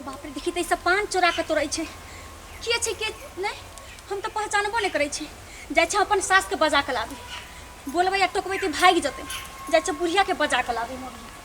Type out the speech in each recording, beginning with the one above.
बाप रे देखी तऽ ई सब पान चोरा कऽ तोड़ै छै के छै के नहि हम तऽ पहचानबो नहि करै छी जाइ छै अपन सासके बजा कऽ लाबी बोलबै आ टोकबै तऽ भागि जेतै जाइ छै बुढ़ियाके बजा कऽ लाबी मम्मी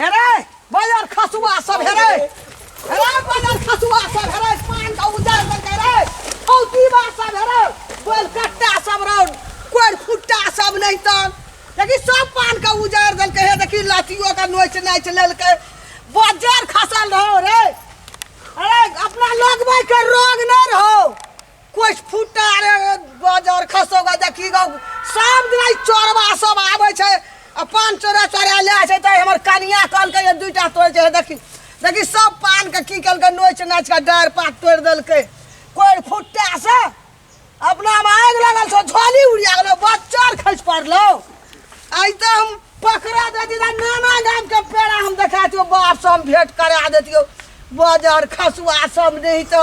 हेरे बाजार खसुआ सब हेरे हेरे बाजार खसुआ सब हेरे पान का उजार कर दे रे औ दीवा सब हेरे बोल कट्टा सब रो कोई फुट्टा सब नहीं तो देखी सब पान का उजार दल के हे देखी लाठियों का नोच नोच लेल के बाजार खसल रहो रे अरे अपना लोग भाई के रोग न रहो कुछ फुटा रे बजर खसो ग देखी ग सब दिन ई चोरवा सब आबै छै आ पान चोरा चोरा ले छै त हमर कनिया कल के दुइटा तोड़ छै देखी देखी सब पान के की कल के नोच नाच के डार पात तोड़ देलकै कोई फुटा से अपना में आग लगल छो झोली उड़िया गेलो बच्चर खस पड़लो आई तो हम पकड़ा देती ना नाना गाम के पेड़ा हम देखा दियो बाप से हम भेंट करा देतियो बाजार खसुआ सब नहीं तो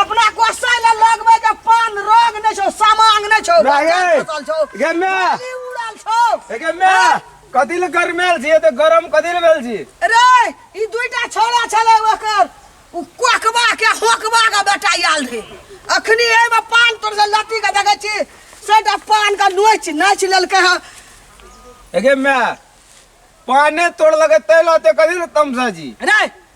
अपना कोसै ले लगबै जे पान रोग नै छौ सामांग नै छौ नहीं। फसल छौ गे मै खाली उड़ल छौ एके मै कथी ले गरमेल छी एते गरम कथी ले भेल छी रे ई दुईटा छोरा छलै ओकर उ कोकबा के होकबा के बेटा आयल रे अखनी एमे पान तोर से लट्टी के देखै छी सेटा पान के नोच नाच लेलकै हँ एके मै पाने तोड़ लगे तै लाते कथी ले तमसा जी रे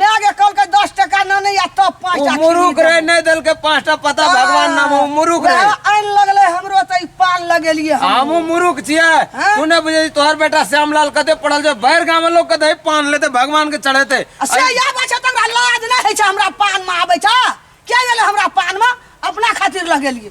मायके कहलकै दस टका नानी आ तब पाँच उ टा मुरुख किनी रे देबै। नहीं देल के पांचटा पता भगवान नाम उ मुरुख रे वएह आनि लगलै हमरो तऽ ई पान लगेलियै हम हमू मुरुख छियै हाँ? तू नहीं बुझे तोहर बेटा श्यामलाल कते पड़ल जे भर गांव में लोग कते पान लेते भगवान के चढ़ेते आ से इएह बात छै तकरा लाज नहि होइ छै हमरा पानमे आबै छै किया गेलै हमरा पानमे अपना खातिर लगेलियै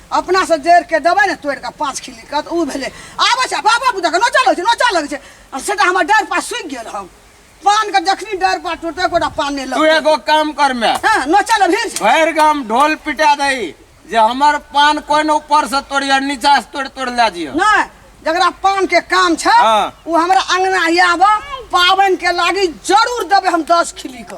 अपना से जड़ के देबै ने तोड़ के पाँच खिली कत उ भेले आबै छै बाबा बुदा के नोचा लगै छै नोचा लगै छै आ सेटा हमर डर पास सुखि गेल हम पान के जखनी डर पास टूटे गोटा पान नहि तू लगै एगो काम कर मैं हां नोचा लग भीड़ छै। भर गाम ढोल पिटा दई जे हमर पान कोई ने ऊपर से तोड़िया नीचा से तोड़ तोड़ ला जियो नहि जकरा पान के काम छै हाँ। उ हमरा अंगना ही आबऽ पाबनि के लागी जरूर देबै हम दस खिली के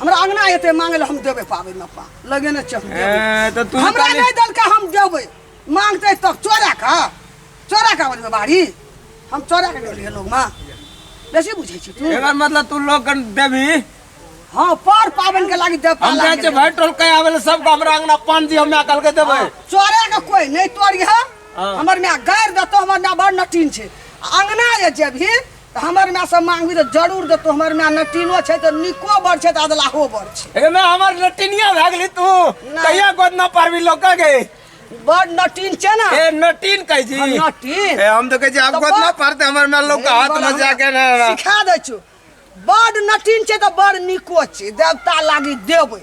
हमरा अंगना एते मांगे ले हम देबे पाबे न पा लगे न चल ए, तो तू हमरा तनी- नहीं दल का हम देबे मांगते तब चोरा का चोरा का बोलबे बाड़ी हम चोरा के गेलिए लोग मां बेसी बुझै छी तू एकर मतलब तू लोग कन देबी हां पर पावन के लागी देब हम जाए छे भाई टोल के आवेले सबको हमरा अंगना पान दी हमरा कल के देबै चोरे के कोई नहीं तोड़ गया हाँ। हमर में गैर देतो हमर ना बड़ नटीन छे अंगना जे जेबही तऽ हमर माय से मांगबी तऽ जरूर देतो हमर माय नटीनो छै तऽ निको बड़ छै तऽ अदलाहो बड़ छै हे मैं हमर नटिनिया भए गेली तू नहि। कहिया गोद न पारबी लोक के बड़ नटीन छै ना ए नटिन कहै छी हम नटीन ए हम तो कहै छी आब तऽ गोद न बड़- पारते हमर मैं लोक के हाथ बड़ में हम जाके ना ना। सिखा दै छु बड़ नटीन छै तऽ बड़ निको छै देवता लागी देबै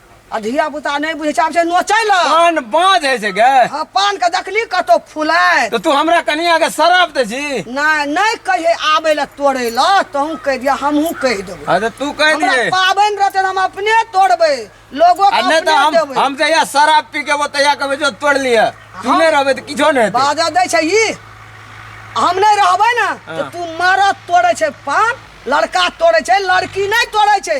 आ धिया पुता नहि बुझै छै आब छै नोचै लए पान बाँझ होइ छै गे आ पान के देखली कतौ फुलाय तऽ तू हमरा कनिया के शराब दे छी नहि नहि कहिए आबै लए तोड़ै लए तहूँ कहि दिया हमहूँ कहि देबै अरे तू कह हमरा दिए पाबनि रहतै हम अपने तोड़बै लोगो आ के नहि तऽ अपने हम देबै हम जहिया शराब पी के ओतहिया कहबै जो तोड़ लिअ तू हम- नहि रहबै तऽ किछो नहि हेतै बाजा दै छै ई हम नहि रहबै ने तऽ हाँ। तू मारत तोड़ै छै पान लड़का तोड़ै छै लड़की नहि तोड़ै छै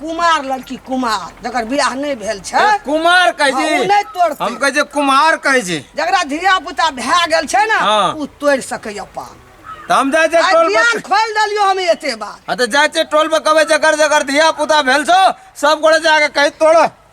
कुमार लड़की कुमार जकर बियाह नहि भेल छै ए, कुमार कहै हँ, ओ छी नहि तोड़तै। हम कहै छी कुमार कहै छी जकरा धिया पुता भए गेल छै ने हँ। ओ तोड़ि सकैया पान तऽ हम जाइ छियै आइ टोल ज्ञान पर खोलि देलियो हम एते बात हँ तऽ जाइ छियै टोल पर कहबै जकर जकर धिया पुता भेल छौ सब गोड़े जाके कहि तोड़